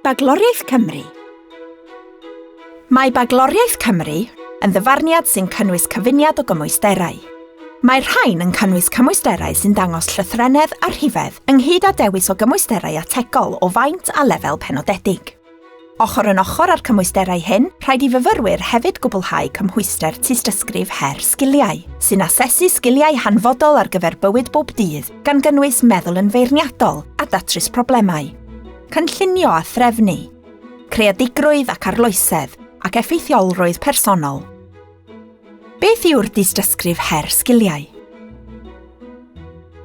Bagloriaeth Cymru Mae Bagloriaeth Cymru yn ddyfarniad sy'n cynnwys cyfuniad o gymwysterau. Mae'r rhain yn cynnwys cymwysterau sy'n dangos llythrennedd a rhifedd ynghyd â dewis o gymwysterau ategol o faint a lefel penodedig. Ochr yn ochr â'r cymwysterau hyn, rhaid i fyfyrwyr hefyd gwblhau cymhwyster tystysgrif her sgiliau, sy'n asesu sgiliau hanfodol ar gyfer bywyd bob dydd gan gynnwys meddwl yn feirniadol a datrys problemau, cynllunio a threfnu, creadigrwydd ac arloesedd, ac effeithiolrwydd personol. Beth yw'r dystysgrif her sgiliau?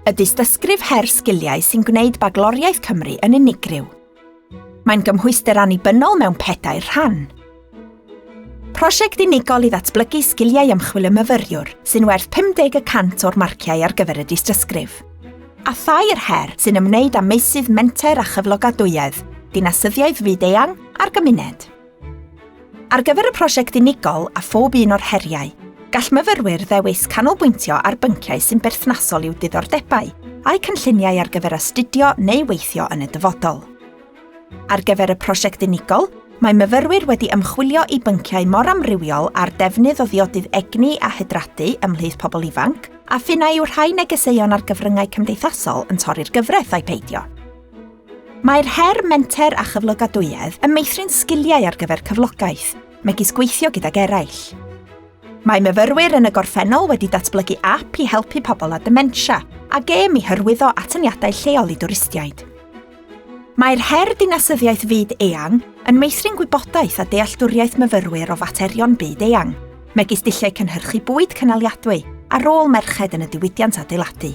Y dystysgrif her sgiliau sy'n gwneud Bagloriaeth Cymru yn unigryw. Mae'n gymhwyster annibynnol mewn pedair rhan. Prosiect unigol i ddatblygu sgiliau ymchwil y myfyriwr, sy'n werth 50 y cant o'r marciau ar gyfer y dystysgrif. A thair her sy'n ymwneud â meysydd menter a chyflogadwyedd, dinasyddiaeth fyd-eang a'r gymuned. Ar gyfer y prosiect unigol a phob un o'r heriau, gall myfyrwyr ddewis canolbwyntio ar bynciau sy'n berthnasol i'w diddordebau a'u cynlluniau ar gyfer astudio neu weithio yn y dyfodol. Ar gyfer y prosiect unigol, mae myfyrwyr wedi ymchwilio i bynciau mor amrywiol â'r defnydd o ddiodydd egni a hydradu ymhlith pobl ifanc, a ph'un a yw rhai negeseuon ar gyfryngau cymdeithasol yn torri'r gyfraith ai peidio. Mae'r her Menter a Chyflogadwyedd yn meithrin sgiliau ar gyfer cyflogaeth, megis gweithio gydag eraill. Mae myfyrwyr yn y gorffennol wedi datblygu ap i helpu pobl â dementia a gêm i hyrwyddo atyniadau lleol i dwristiaid. Mae'r her Dinasyddiaeth Fyd Eang yn meithrin gwybodaeth a dealltwriaeth myfyrwyr o faterion byd eang, megis dulliau cynhyrchu bwyd cynaliadwy a rôl merched yn y diwydiant adeiladu.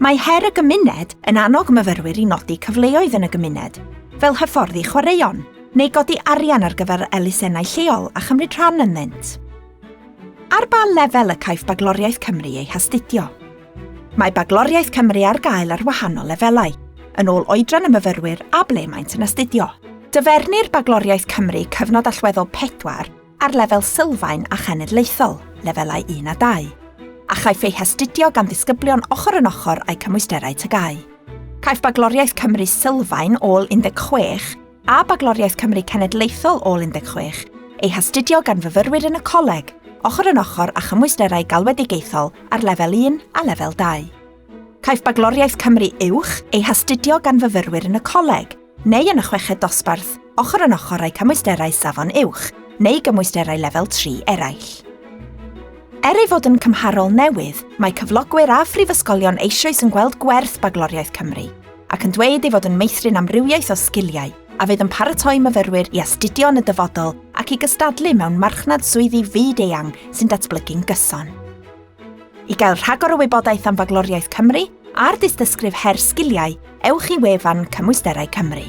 Mae Her y Gymuned yn annog myfyrwyr i nodi cyfleoedd yn y gymuned, fel hyfforddi chwaraeon, neu godi arian ar gyfer elusennau lleol a chymryd rhan ynddynt. Ar ba lefel y caiff Bagloriaeth Cymru ei hastudio? Mae Bagloriaeth Cymru ar gael ar wahanol lefelau, yn ôl oedran y myfyrwyr a ble maent yn astudio. Dyfernir Bagloriaeth Cymru cyfnod allweddol pedwar ar lefel sylfaen a chenedlaethol, lefelau un a dau, a chaiff ei hastudio gan ddisgyblion ochr yn ochr â'u cymwysterau TGAU. Caiff Bagloriaeth Cymru Sylfaen ôl 16 a Bagloriaeth Cymru Cenedlaethol ôl 16 eu hastudio gan fyfyrwyr yn y coleg, ochr yn ochr â chymwysterau galwedigaethol ar lefel un a lefel dau. Caiff Bagloriaeth Cymru Uwch ei hastudio gan fyfyrwyr yn y coleg, neu yn y chweched dosbarth, ochr yn ochr â'i cymwysterau Safon Uwch neu gymwysterau Lefel 3 eraill. Er ei fod yn cymharol newydd, mae cyflogwyr a phrifysgolion eisoes yn gweld gwerth Bagloriaeth Cymru ac yn dweud ei fod yn meithrin amrywiaeth o sgiliau a fydd yn paratoi myfyrwyr i astudio yn y dyfodol ac i gystadlu mewn marchnad swyddi fyd-eang sy'n datblygu'n gyson. I gael rhagor o wybodaeth am Bagloriaeth Cymru a'r dystysgrif her sgiliau, ewch i wefan Cymwysterau Cymru.